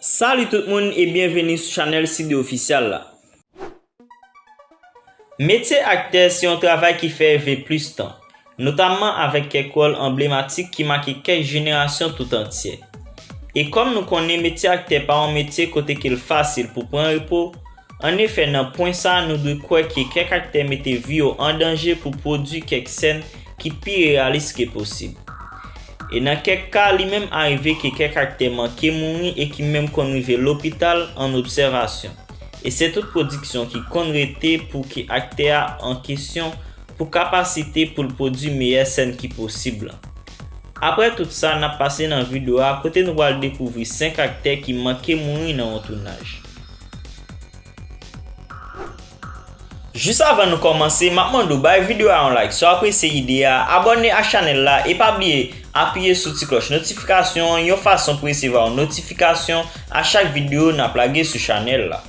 Salut tout moun e byenveni sou chanèl Sidde Official la. Metye aktè se yon travay ki fè ve plis tan. notamman avèk kèk wòl anblematik ki make kèk jenerasyon tout antyè. E kòm nou konnen metye aktè pa yon metye kote ke l fasil pou pran repo, an efè nan pwen sa nou dwe kwè ke kèk aktè mete vi yo an danje pou pwodui kèk sèn ki pi reyalis ke posib. E nan kèk ka li menm arive ke kèk aktè manke mouri e ki menm konn rive lopital an obsèvasyon e se tout pwodiksyon ki konn rete pou ke aktè a an kesyon pou kapasite pou l pwodui meyè sèn ki posib lan. Aprè tout sa n ap pase nan video a kote nou pral dekouvri 5 aktè ki manke mouri nan yon tounaj. Jis avan nou kòmanse m ap mande w bay video a yon like si w apresye ide a, abòne ak chanèl la e pa bliye apiye sou ti klòch notifikasyon an yon fason pou resevwa yon notifikasyon a chak video n ap lage sou chanèl la.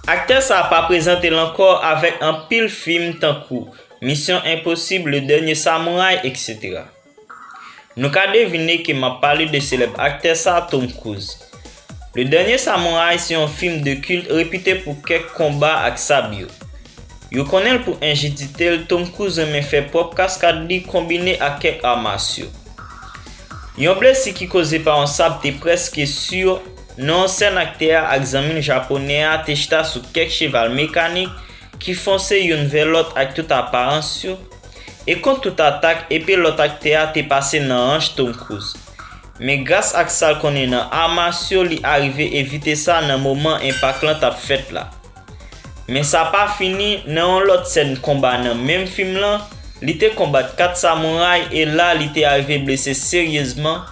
Aktè sa pa prezante l ankò avèk anpil fim tankou Mission Impossible, Le Dernier Samouraï etc. Nou ka devine ke m ap pale de selèb aktè sa Tom Cruise. Le Dernier Samouraï se yon fim de kilt repite pou kèk konba ak sab yo. Yo konnen l pou enjidite l Tom Cruise renmen fè pwòp kaskad li konbine ak kèk arts martiaux. Yon blesi ki koze pa yon sab te prèske sur Non sèn aktè a ak zanmi l Japonè a te chita sou kèk cheval mekanik ki fonse youn vè lòt ak tout aparans yo, e kont tout atak epe lòt aktè a te pase nan hanch Tom Cruise. Men gras ak sa l konnen nan ar masyo li arive evite sa nan moman enpak lan t ap fèt la. Men sa pa fini, nan yon lòt sèn konba nan menm fim lan, li te konbat 4 samouray e la li te arive blese seryezman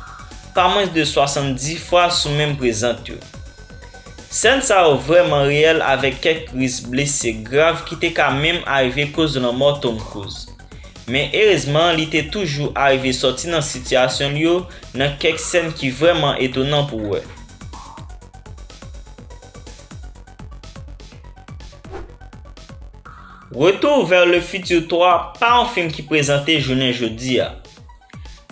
pa mwens de 70 fwa sou menm prezant yo. Sèn sa yo vrèman reyèl avèk kèk ris blese grav ki te ka menm arive koz lanmò Tom Cruise. Men erezman li te toujou arive sòti nan sitiyasyon l yo nan kèk sèn ki vrèman etonan pou wè. Retour vers le futur 3 pa yon fim ki prezante jounen jodi a.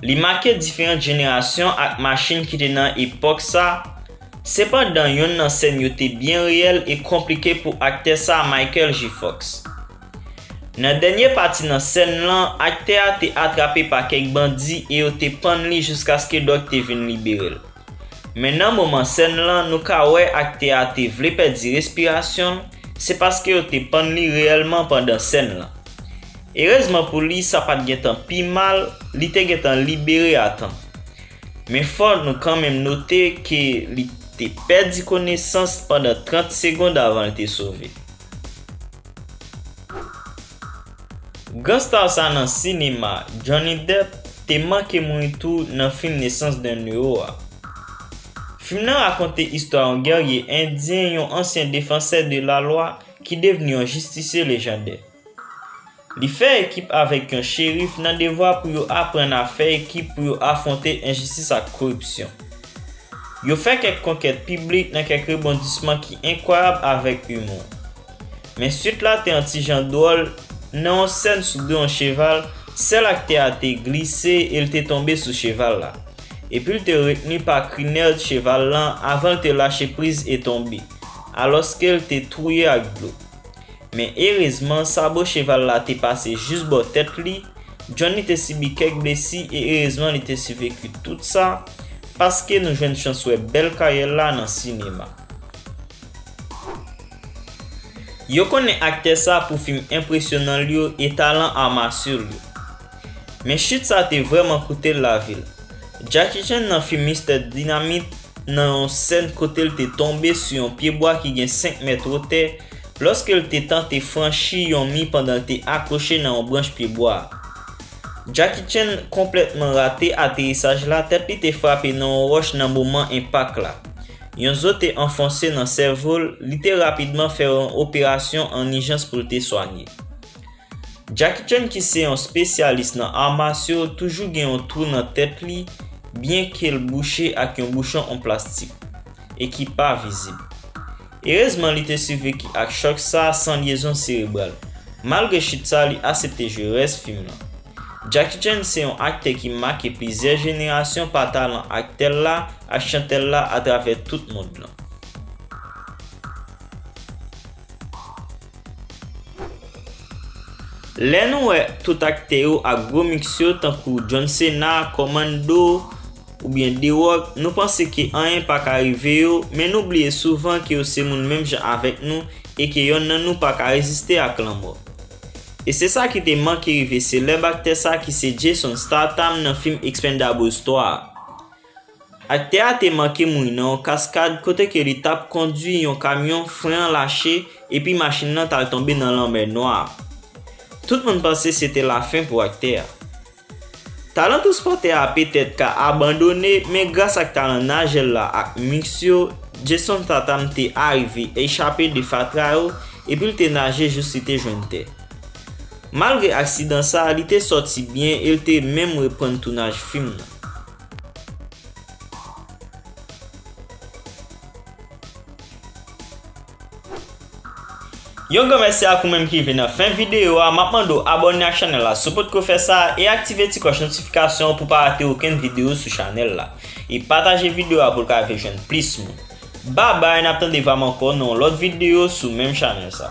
Li make diferant jenerasyon ak machin ki te nan epòk sa, sepandan yonn nan sèn yo te byen reyèl e konplike pou aktè sa Michael J. Fox. Nan dènye pati nan sèn lan, aktè a te atrape pa kèk bandi e yo te pann li jiskaske dòk te vin liberel. Men nan moman sèn lan nou ka wè aktè a te vle pèdi respirasyon l, se paske yo te pann li reyèlman pandan sèn lan. Erezman pou li sa pat gentan pi mal, li te gentan libere a tan. Men fò nou kanmenm note ke li te pèdi konesans pandan 30 segond avan l te sove. Gran star sa nan sinema, Johnny Depp, te manke mouri tou nan fim Naissance d'un Héros a. Fim nan rakonte istwa yon gèrye endyen yon ansyen defansè de la lwa ki devni yon jistisye lejandè. Li fè ekip avèk yon cherif nan devwa pou yo aprann a fè ekip pou yo afwonte enjistis ak koripsyon. Yo fè kèk konkèt piblik nan kèk rebondisman ki enkwayab avèk humour. Men suit la te yon ti jan dwòl, nan yon sèn sou do yon cheval, sèl aktè a te glise e l te tonbe sou cheval la. Epi l te retni pa krinèd cheval lan avan l te lache priz e tonbe, alòske l te touye ak dlo. Men erezman sabo cheval la te pase jis bò tèt li, Johnny te sibi kèk blesi e erezman li te siveku tout sa, paske nou jwenn chans wè bèl karyè l la nan sinema. Yo konnen aktè sa pou fim enpresyonan l yo e talan art martiaux l yo. Men chit sa te vrèman koute l lavi l. Jackie Chan nan fim Mister Dinamit nan yon sèn kote l te tonbe sou yon pyebwa ki gen 5 mèt wotè lòske l te tante franchi yon mi pandan l te akwoche nan yon branch pyebwa a. Jackie Chan konplètman rate aterisaj la tèt li te frape nan yon wòch nan moman enpak la. Yon zo te anfonse nan sèvo l, li te rapidman fè yon operasyon an ijans pou l te swanye. Jackie Chan ki se yon spesyalis nan ar masyo toujou gen yon twou nan tèt li byen ke l bouche ak yon bouchon an plastik e ki pa vizib. Erezman li te siveki ak chòk sa san lyezon serebral. Malgre chit sa li asepte jwe rès fim lan. Jackie Chan se yon aktè ki make plizyè jenerasyon pa talan aktè l la ak chantè l la atravè tout mond lan. Lè nou wè tout aktè yo ak gwo miks yo tankou John Cena, Commando, oubyen The Rock, nou panse ke anyen pa ka rive yo, men nou bliye souvan ke yo se moun menm jan avèk nou e ke yonn nan nou pa ka reziste ak lanmò. E se sa ki te manke rive selèb aktè sa ki se Jason Statham nan fim Expendables 3 a. Aktè a te manke mouri nan yon kaskad kote ke li tap kondwi yon kamyon fren an lache epi machin lan tal tonbe nan lanmè nwa a. Tout moun panse se te lafen pou aktè a. Talan transpòtè a petèt ka abandone men gras ak talan najel la ak mix yo Jason Tatam te arive echape de fatra yo epi l te naje jous li te jwenn tè. Malgre aksidan sa li te sòti byen e l te menm reprann tounaj fim nan. Yon gran mèsi ak ou menm ki rive nan fen videyo a, map mande w abòne ak chanèl la si w potko fè sa e aktive ti klòch notifikasyon an pou w pa rate okenn videyo sou chanèl la. E pataje videyo a pou l ka rive jwenn plis moun. Babay nap tande vam ankò nan yon lòt videyo sou menm chanèl sa.